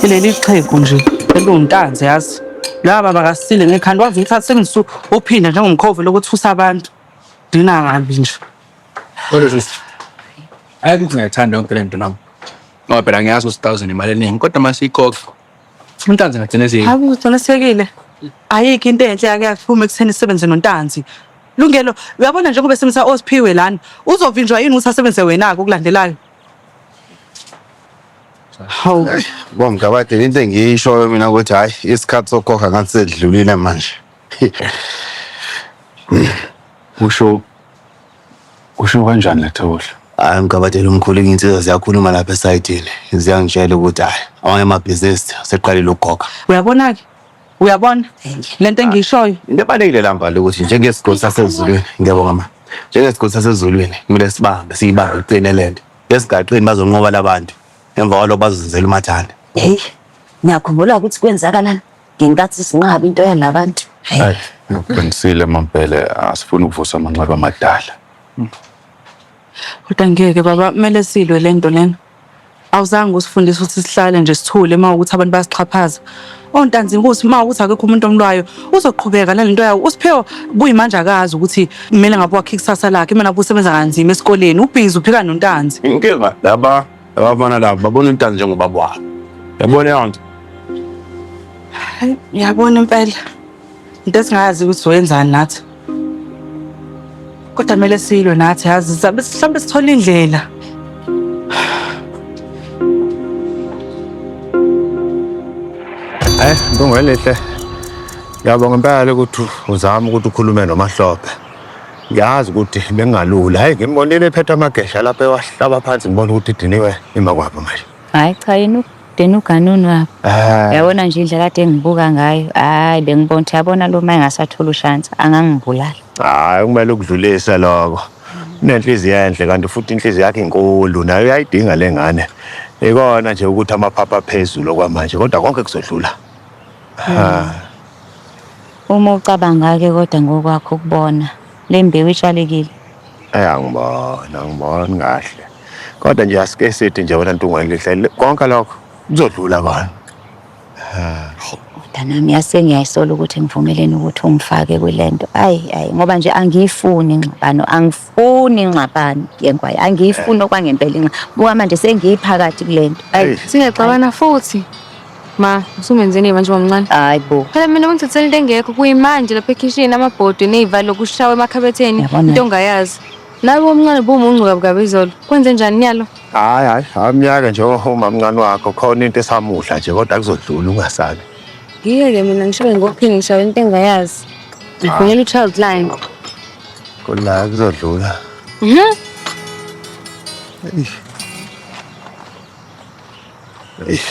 ileli xhegu nje eliwuntanzi yazi laba bakasile ngekhanda wazi ukuthi asebenzisa uphinda njengomkhovu lokuthi fusa abantu dina kabi nje kodwa sisi ayi ukuthi ngiyayithanda yonke le nto nami ngoba phela ngiyazi ukuthi thousand imali eningi kodwa uma siyikhokha untanzi ngagcine siyi hayi uqinisekile ayikho into enhle yake yaphuma ekutheni isebenze nontanzi lungelo uyabona njengoba esebenzisa osiphiwe lana uzovinjwa yini ukuthi asebenze wena-ke okulandelayo Hawu bomgabade into engiyishoyo mina ukuthi hayi isikhathi sokukhokha ngathi sedlulile manje. Usho usho kanjani Lethohle? Hayi mgabadeli umkhulu izinsizwa ziyakhuluma lapha esayidini ziyangitshela ukuthi hayi amanye amabhizinisi seqalile ukugoga. Uyabona-ke uyabona le nto engiyishoyo Into ebalulekile la mbali ukuthi njengesigodi sasezulwini ngiyabonga ma njengesigodi sasezulwini kumele sibambe siyibambe iqine le nto. Esigaqini bazonqoba labantu emva kwalo bazenzela umathanda. Hey, ngiyakhumbula ukuthi kwenzakalana ngenkathi sinqaba into yalabantu. Hayi, ngiqinisile mampela asifuni ukuvusa amanxeba amadala. Kodwa ngeke baba kumele silwe lento lena. Awuzange usifundise ukuthi sihlale nje sithule uma ukuthi abantu basixhaphaza. ontanzinkosi uma ukuthi akekho umuntu omlwayo uzoqhubeka nalento yawo usiphewa kuyimanje akazi ukuthi kumele ngabe wakhe ikusasa lakhe mina busebenza kanzima esikoleni ubhizi uphika nontanzi inkinga laba abafana laba babona intanzi njengoba bwabo yabona yonke yabona impela into esingayazi ukuthi zoyenzani nathi kodwa kumele silwe nathi yazi sabe mhlawumbe sithola indlela Eh, Ntungwelihle. Ngiyabonga impela ukuthi uzama ukuthi ukhulume noMahlophe. Ngiyazi ukuthi bengalula. Hayi ngimbonile ephethe amagesha lapha ewahlaba phansi ngibona ukuthi idiniwe imakwabo manje. Hayi cha yini then uganunu wabo ah. yabona nje indlela kade engibuka ngayo hayi bengibona ukuthi yabona lo ma engasathola ushansi angangibulala hayi kumele ukudlulise lokho unenhliziyo enhle kanti futhi inhliziyo yakhe inkulu nayo uyayidinga le ngane ikona nje ukuthi amaphapha aphezulu okwamanje kodwa konke kuzodlula hmm. uma ucabanga-ke kodwa ngokwakho ukubona le mbewu itshalekile eyangibona ngibona kahle kodwa nje asike sithi nje wena ntungu elihle konke lokho kuzodlula kona mntanami yase ngiyayisola ukuthi ngivumeleni ukuthi ungifake kule nto ayi ayi ngoba nje angiyifuni ingxabano angifuni ingxabano yenkwayo angiyifuni okwangempela inxa buka manje sengiyiphakathi kule nto ayi singexabana futhi ma usumenzeni manje wamncane hayi bo phela mina ungithathela into engekho kuyimanje lapha ekhishini amabhodi nezivalo kushawa emakhabetheni into ongayazi Nawe omncane bumuncu kabukabi izolo. Kwenze njani nyalo? Hayi hayi, amnyaka nje omamncane wakho khona into esamudla nje kodwa kuzodlula ungasabi. Ngiyeke mina ngishawe ngophini ngishawe into engayazi. Ngifunela u-child line. Kula kuzodlula. Mhm. Eish. Eish.